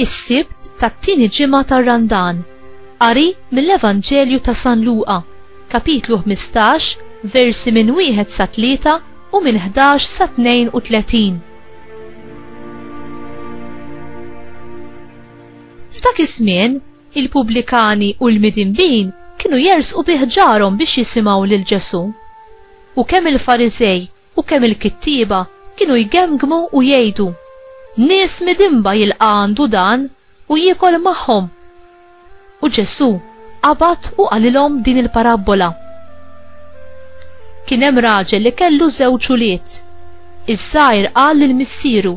is-sibt tat-tieni ġimgħa tar-Randan. Qari mill-Evanġelju ta' San Luqa, kapitlu 15, versi minn wieħed sa tlieta u minn 11 sa 32. F'dak iż-żmien, il-pubblikani u l-midinbin kienu jersqu bi ħġarhom biex jisimgħu lil Ġesù. U kemm il-Fariżej u kemm il-kittieba kienu jgemgmu u jgħidu, Nies midinba jilqa' għandu dan u jiekol magħhom! U Ġesù Qabad u qalilhom din il-parabbola. Kien hemm raġel li kellu żewġ ulied. Iż-żgħir qal lil missieru,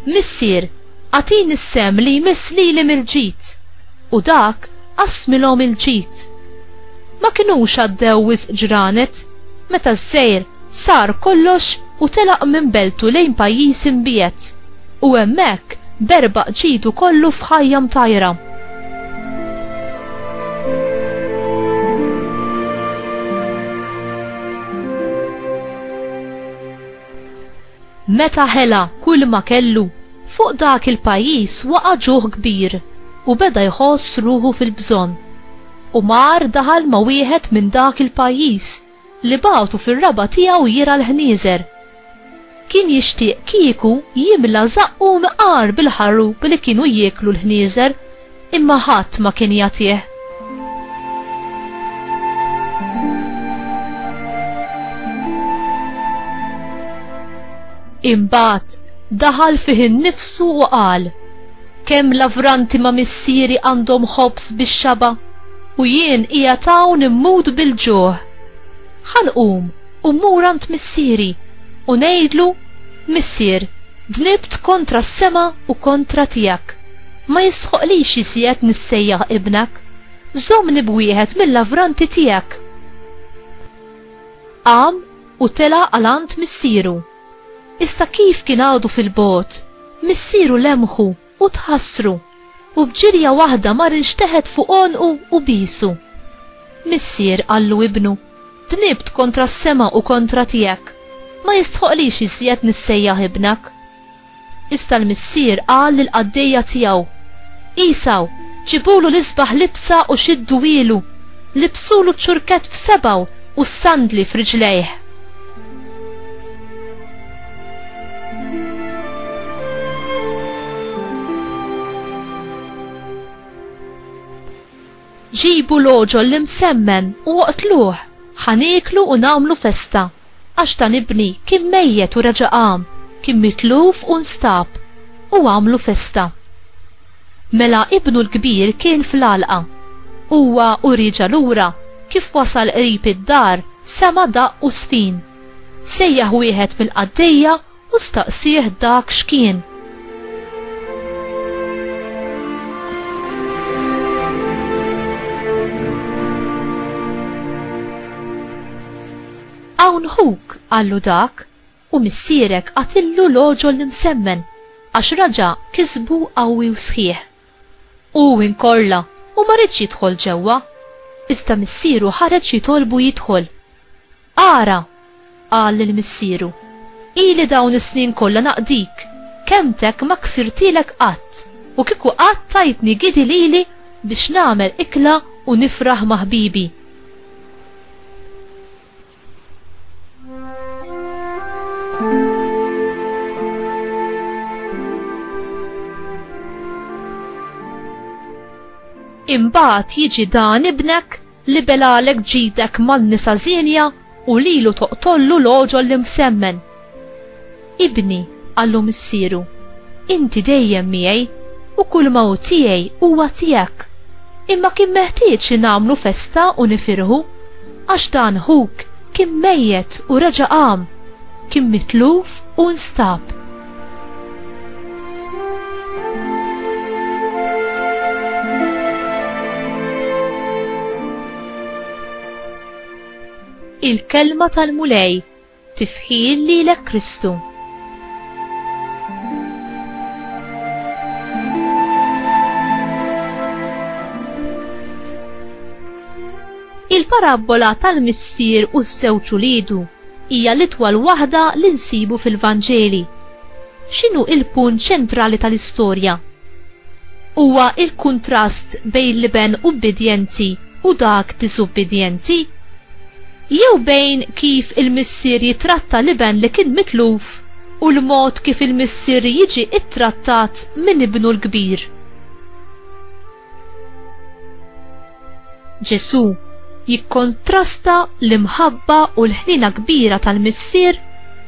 Missier, agħtini s-sehem li jmiss lili mill-ġid. U dak qassmilhom il-ġid. Ma kinux għaddew wisq ġranet meta ż-żgħir sar kollox u telaq minn beltu lejn pajjiż imbiegħed. U hemmhekk berbaq ġidu kollu f'ħajja mtajra. Meta ħela kull ma kellu, fuq dak il-pajjiż waqa' ġuħ kbir u beda jħoss ruħu fil-bżonn. U mar daħal ma' wieħed minn dak il-pajjiż li bagħtu fir-raba' tiegħu jirgħa l-ħnieżer. Kien jixtieq kieku jimla żaqqu mqar bil-ħarrup li kienu jieklu l-ħnieżer, imma ħadd ma kien jagħtih. Imbagħad daħal fih innifsu u qal, Kemm lavranti ma' missieri għandhom ħobż bix-xaba', u jien qiegħed hawn immut bil-ġuħ! Ħa nqum u mmur għand missieri, u ngħidlu, Missier, dnibt kontra s-sema u kontra tiegħek. Ma jistħoqqlix iżjed nissejjaħ ibnek. Żommni b'wieħed mil-lavranti tiegħek! Qam u tela' għal għand missieru. Iżda kif kien għadu fil-bogħod, missieru lemħu u tħassru, u b'ġirja waħda mar inxteħet fuq għonqu u biesu. Missier qallu ibnu, Dnibt kontra s-sema u kontra tiegħek. Ma jistħoqqlix iżjed nissejjaħ ibnek. Iżda l-missier qal lill-qaddejja tiegħu, Għisaw, ġibulu l-isbaħ libsa u xidduhielu, libsulu ċ-ċurkett f'sebgħu u s-sandli f'riġlejh. Ġibu l-għoġol l-imsemmen u oqtluh, ħa nieklu u nagħmlu festa, għax dan ibni kien mejjet u reġa' qam, kien mitluf u nstab, u għamlu festa. Mela ibnu l-kbir kien fl-għalqa. Huwa u rieġa' lura, kif wasal qrib id-dar, sema' daqq u żfin. Sejjaħ wieħed mill-qaddejja U staqsieh dak x'kien. Hawn ħuk, qallu dak, u missierek qatillu l-għoġol l-imsemmen, għax raġa' kisbu qawwi u sħiħ. Hu inkorla u ma riedx jidħol ġewwa, iżda missieru ħareġ jitolbu jidħol. Ara! qal lil missieru, ili dawn is-snin kollha naqdik, kelmtek ma ksirtilek qatt, u kieku qatt tajtni gidi lili biex nagħmel ikla u nifraħ ma' ħbibi. Imbagħad jiġi dan ibnek Libelalek ġidek man-nisa żienja u lilu toqtollu l-għoġol l-imsemmen. Ibni, qallu missieru, inti dejjem miegħi u kulma hu tiegħi huwa tiegħek. Imma kien meħtieġ li nagħmlu festa u nifirħu, għax dan ħuk kien mejjet u reġa' qam, kien mitluf u nstab. il-kelma tal-Mulej, tifħil li l Kristu. Il-parabola tal-missier u s-sewċu lidu Hija l-itwal waħda li nsibu fil-Vanġeli. X'inhu il-punt ċentrali tal-istorja? Huwa il-kuntrast bejn l-iben ubbidjenti u dak diżubbidjenti? Jew bejn kif il-missier jittratta l-iben li kien mitluf u l-mod kif il-missier jiġi ttrattat minn ibnu l-kbir? Ġesù jikkontrasta l-imħabba u l-ħnina kbira tal-Missier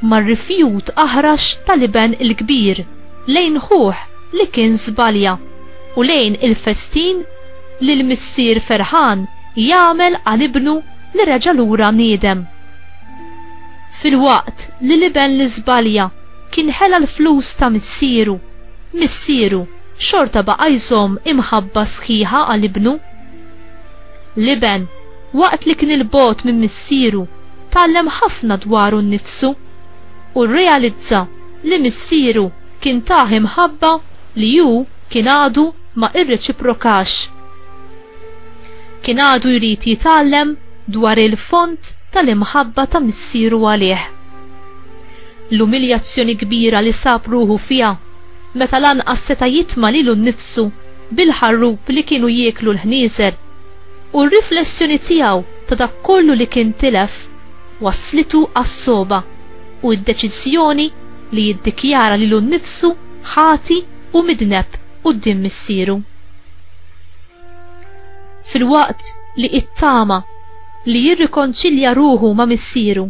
mar-rifjut aħrax tal-iben il-kbir lejn ħuh li kien żbalja u lejn il-festin li l-Missier ferħan jagħmel għal ibnu li reġa' lura niedem. Filwaqt li l-iben li żbalja kien ħela l-flus ta' missieru, missieru xorta baqa' jżomm imħabba sħiħa għal ibnu. L-iben, waqt li kien 'il bogħod minn missieru, tgħallem ħafna dwaru nnifsu u rrealizza li missieru kien tah imħabba li hu kien għadu ma irreċiprokax. Kien għadu jrid jitgħallem dwar il-fond tal-imħabba ta' missieru għalih. L-umiljazzjoni kbira li sab ruħu fiha meta lanqas seta' jitma' lilu nnifsu bil-ħarrub li kienu jieklu l-ħnieżer, u r-riflessjoni tiegħu ta' dak kollu li kien tilef, wasslitu għas-sogħba u d-deċiżjoni li jiddikjara lilu nnifsu ħati u midneb quddiem missieru. Filwaqt li it-tama li jirrikonċilja ruħu ma' Missieru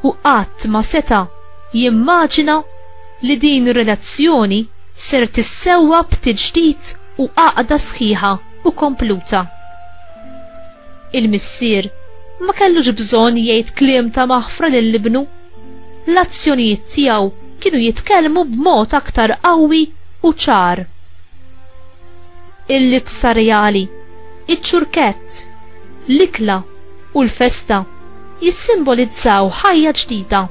u qatt ma seta' jimmaġina li din ir-relazzjoni ser tissewwa b'tiġdid u għaqda sħiħa u kompluta. Il-missier ma kellux bżonn jgħid kliem ta' maħfra lil ibnu. L-azzjonijiet tiegħu kienu jitkellmu b'mod aktar qawwi u ċar. il-libsa reali, iċ-ċurkett, l-ikla u l-festa jissimbolizzaw ħajja ġdida,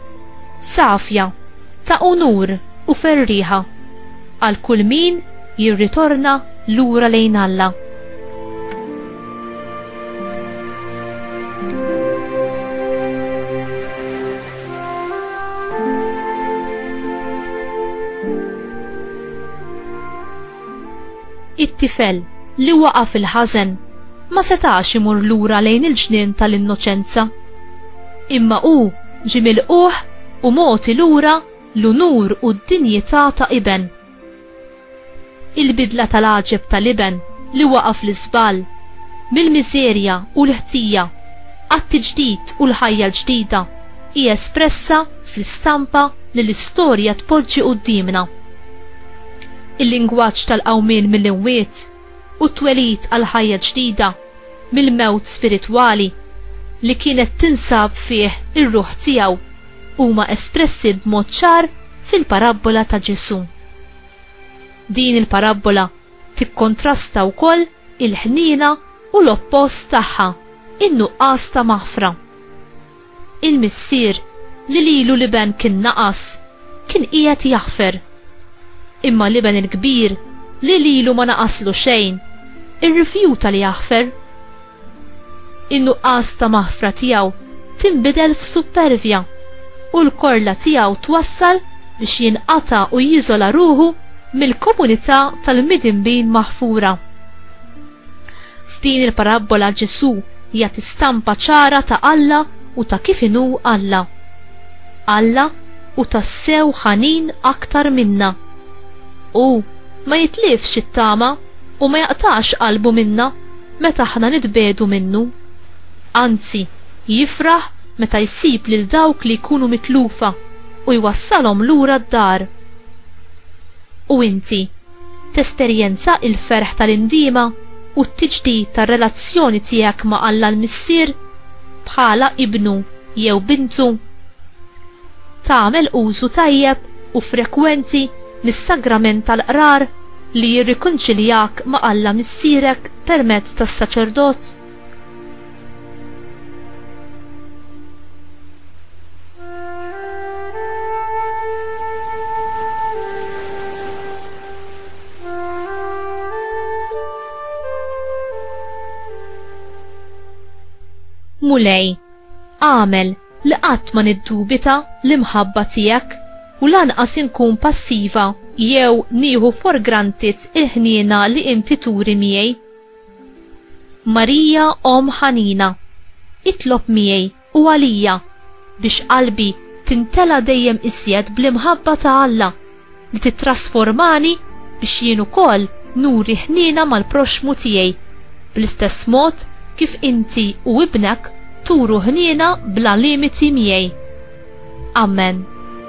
safja, ta' unur u ferrieħa għal kull min jirritorna lura lejn Alla. It-tifel li waqa' fil-ħażen ma setax imur lura lejn il-ġnien tal-innoċenza. Imma hu ġie milqugħ u mogħti lura l-unur u d-dinjità ta' iben. Il-bidla tal-għaġeb tal-iben li waqa' fl-iżball, mill-miżerja u l-ħtija għat-tiġdid u l-ħajja l-ġdida hi espressa fl-istampa li l-istorja tpoġġi quddiemna. Il-lingwaġġ tal-qawmien mill-imwiet u t-twelid għal ħajja ġdida mill-mewt spiritwali li kienet tinsab fih ir-ruħ tiegħu huma espressi b'mod ċar fil-parabbola ta' Ġesù. Din il-parabbola tikkontrasta wkoll il-ħniena u l-oppost tagħha, in-nuqqas ta' maħfra. Il-missier, li lilu l-iben kien naqas, kien qiegħed jaħfer. Imma l-iben il-kbir, li lilu ma naqaslu xejn, irrifjuta li jaħfer. In-nuqqas ta' maħfra tiegħu tinbidel f'suppervja, u l-korla tiegħu twassal biex jinqata' u jiżola ruħu mill-komunità tal-midinbin maħfura. F'din il-parabbola Ġesù jagħti stampa ċara ta' Alla u ta' kif inhu Alla. Alla hu tassew ħanin aktar minna. Hu ma jitlifx it-tama u ma jaqtax qalbu minna meta aħna nitbiegħdu minnu. Anzi, jifraħ meta jsib lil dawk li jkunu mitlufa u jwassalhom lura d-dar. U inti? Tesperjenza l-ferħ tal-indiema u t-tiġdid tar-relazzjoni tiegħek ma' Alla l-Missier bħala ibnu jew bintu? Tagħmel użu tajjeb u frekwenti mis-sagrament tal-qrar li jirrikonċiljak ma' Alla Missierek permezz tas-saċerdot? Mulej, għamel li qatt ma niddubita l-imħabba tiegħek u lanqas inkun passiva jew nieħu for granted il-ħniena li inti turi miegħi. Marija omm ħanina, itlob miegħi u għalija biex qalbi tintela' dejjem iżjed bl-imħabba ta' Alla li tittrasformani biex jien ukoll nuri ħniena mal-proxxmu tiegħi bl-istess mod kif inti u Ibnek turu ħniena bla limiti miegħi. Amen.